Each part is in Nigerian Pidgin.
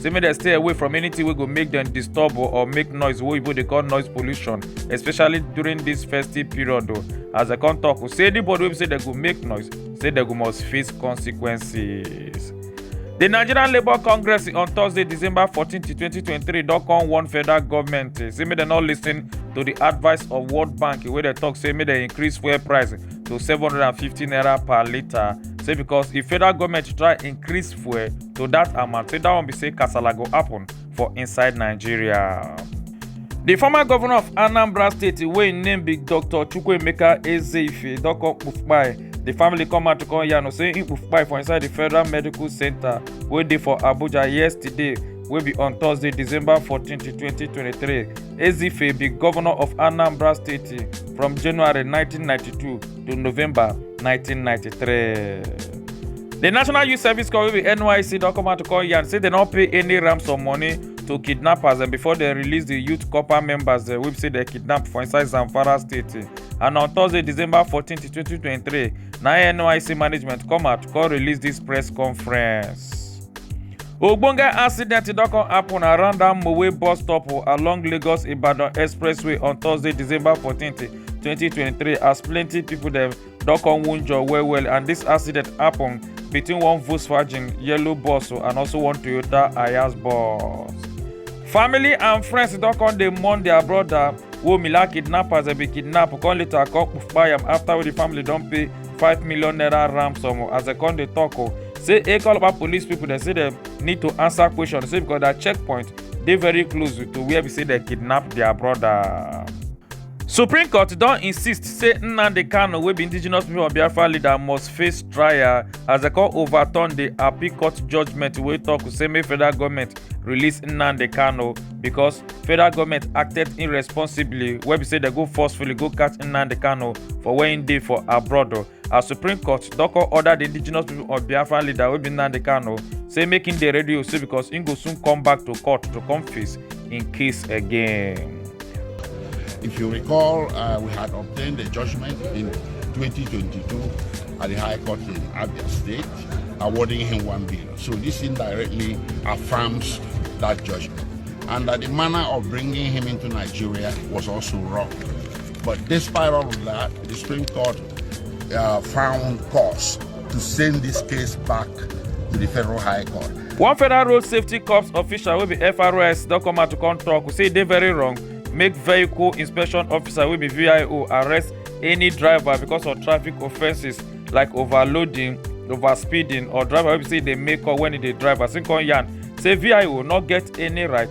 say make dem stay away from anything wey go make dem disturb o or make noise wey oyibo dey call noise pollution especially during this festive period o as dem come talk o say anybody wey be say dem go make noise say dem go must face consequences. The Nigerian Labour Congress on Thursday, December 14, 2023, don come warn federal government eh, say make dem no lis ten to the advice of World Bank wey dey talk say make dem increase fuel price to 750 naira per litre. Say because if federal government try increase fuel to dat amount say dat one be say kasala go happen for inside nigeria. di former governor of anambra state wey im name be dr chukwuemeka ezeife don come kpufkpai di family come out to come yarn say im kpufkpai for inside di federal medical centre wey dey for abuja yesterday wey be on thursday december 14 2023 ezeife be governor of anambra state from january 1992 to November 1993. The National Youth Service Corps wey be NYSC don come out to call yarn say dem no pay any ransom money to kidnappers and before dem release the youth corps members dem wey be say dem kidnap for inside Zamfara state and on Thursday December 14, 2023 na NYSC management come out come release this press conference. ogbonge accident don come happen around dat mowe bus stop along lagos ibadan expressway on thursday december 14th 2023 as plenty people dem don come wunjure well well and this accident happen between one volkswagen yellow bus and also one toyota ayas bus family and friends don come dey mourn their brother wey mila kidnappers dem bin kidnap come later come kpai am after wey the family don pay five million naira ransom as dem come dey talk o say ekolaba police people dem say dem need to answer question say because their checkpoint dey very close to where be say dem kidnap their brother. Supreme Court don insist say Nnamdi Kanu wey be indigenous people of Biafra leader must face trial as dem come overturn the appeal court judgment wey talk say make federal government release Nnamdi Kanu because federal government acted irresponsibly wey be say dem go forcefully go catch Nnamdi Kanu for where im dey for abroad as supreme court don come order di indigenous pipo of biafra leader wey be nnamdi kanu say make im dey ready o say becos im go soon come back to court to come face im case again. If you recall, uh, we had obtained a judgment in 2022 at the High Court in Abia State awarding him one billion. So this indirectly affirms that judgment. And that the manner of bringing him into Nigeria was also wrong. But despite all of that, the Supreme Court uh, found cause to send this case back to the Federal High Court. One Federal Road Safety Corps official will be FRS don come out to come talk say they very wrong make vehicle inspection officer will be VIO arrest any driver because of traffic offences like overloading, overspeeding or driver wey be say e dey make up when e dey drive as im come yarn say VIO not get any right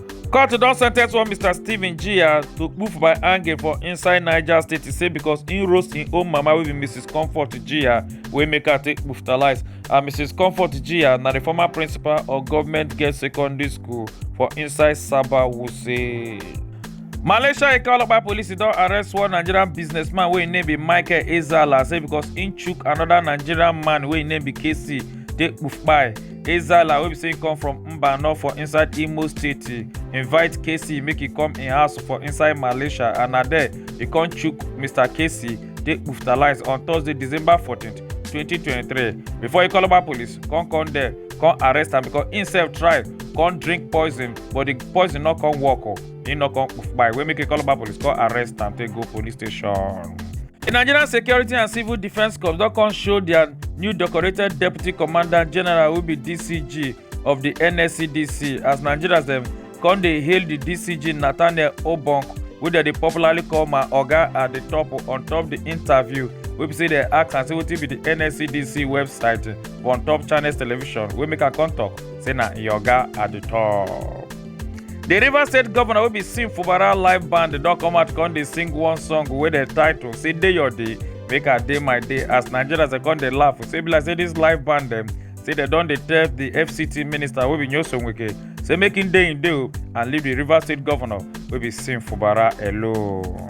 court don sentence one mr stephen jia to kpu for by hanging for inside niger state e say because im roast im own mama wey be mrs comfort jia wey make her take kpuftalise and mrs comfort jia na di former principal of government girls secondary school for inside saba wuse. malaysia ika olopa police don arrest one nigerian businessman wey im name be michael ezala say because im chook anoda nigerian man wey im name be casey take kpufkpai. Ezala wey be say come from Mbano for inside Imo State invite Casey make he come in house for inside Malaysia and na there he come chook Mr. Casey dey hospitalize on Thursday December 14th 2023 before he call about police come come there come arrest am because himself try come drink poison but the poison no come work o. Oh. He no come poof by wey make a call about police call arrest and take go police station. The Nigerian Security and Civil Defence Corps don come show their new decorated Deputy Commandant General wey be DCG of the NSCDC as Nigerians dem come dey hail the DCG Nathaniel Obonk wey dem dey popularly call my oga at the top on top the interview wey be say dem ask am say wetin be the NSCDC website for on top Channels Television wey make am come talk say na im oga at the top. di rivers state govnor wey be sim fubara live band don come out come dey sing one song wey dem title say dey your day make i dey my day as nigerians dey come dey laugh say be like say dis live band dem say dem don dey tell di fct minister wey be nyoso wike say make im dey im dey o and leave di rivers state govnor wey be sim fubara alone.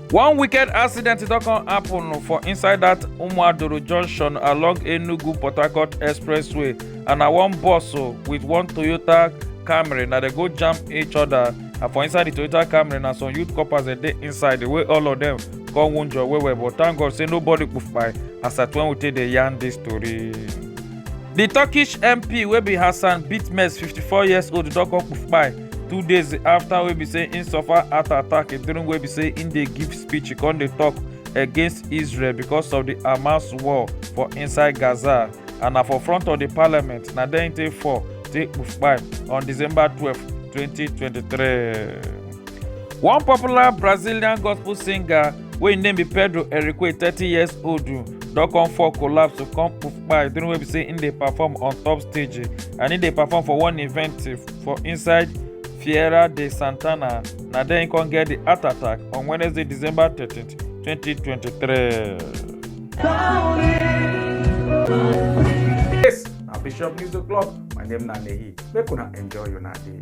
One wicked accident don come happen for inside that Umuadoro junction along Enugu Port Harcourt Expressway and na one bus o with one Toyota Camry na dem go jam each other and for inside the Toyota Camry na some youth corpers dem dey inside the way all of them come wunjure well well but thank God say nobody kpai as at when we take dey yarn this story. The Turkish MP wey be Hassan Bitmez 54 years old don come kpai two days after wey be say im suffer heart attack during wey be say im dey give speech e come dey tok against israel because of di hamas war for inside gaza and na for front of di parliament na there im take fall take kpai on december twelve twenty twenty three. one popular brazilian gospel singer wey im name be pedro erique thirty years old don come fall collapse to come kpai during wey be say im dey perform on top stage and im dey perform for one event for inside Fiera de Santana. Na there he come get the heart attack on Wednesday, December 13th, 2023. Yes, na Bishop News O'Clock. My name na Nehi. Make una enjoy una day.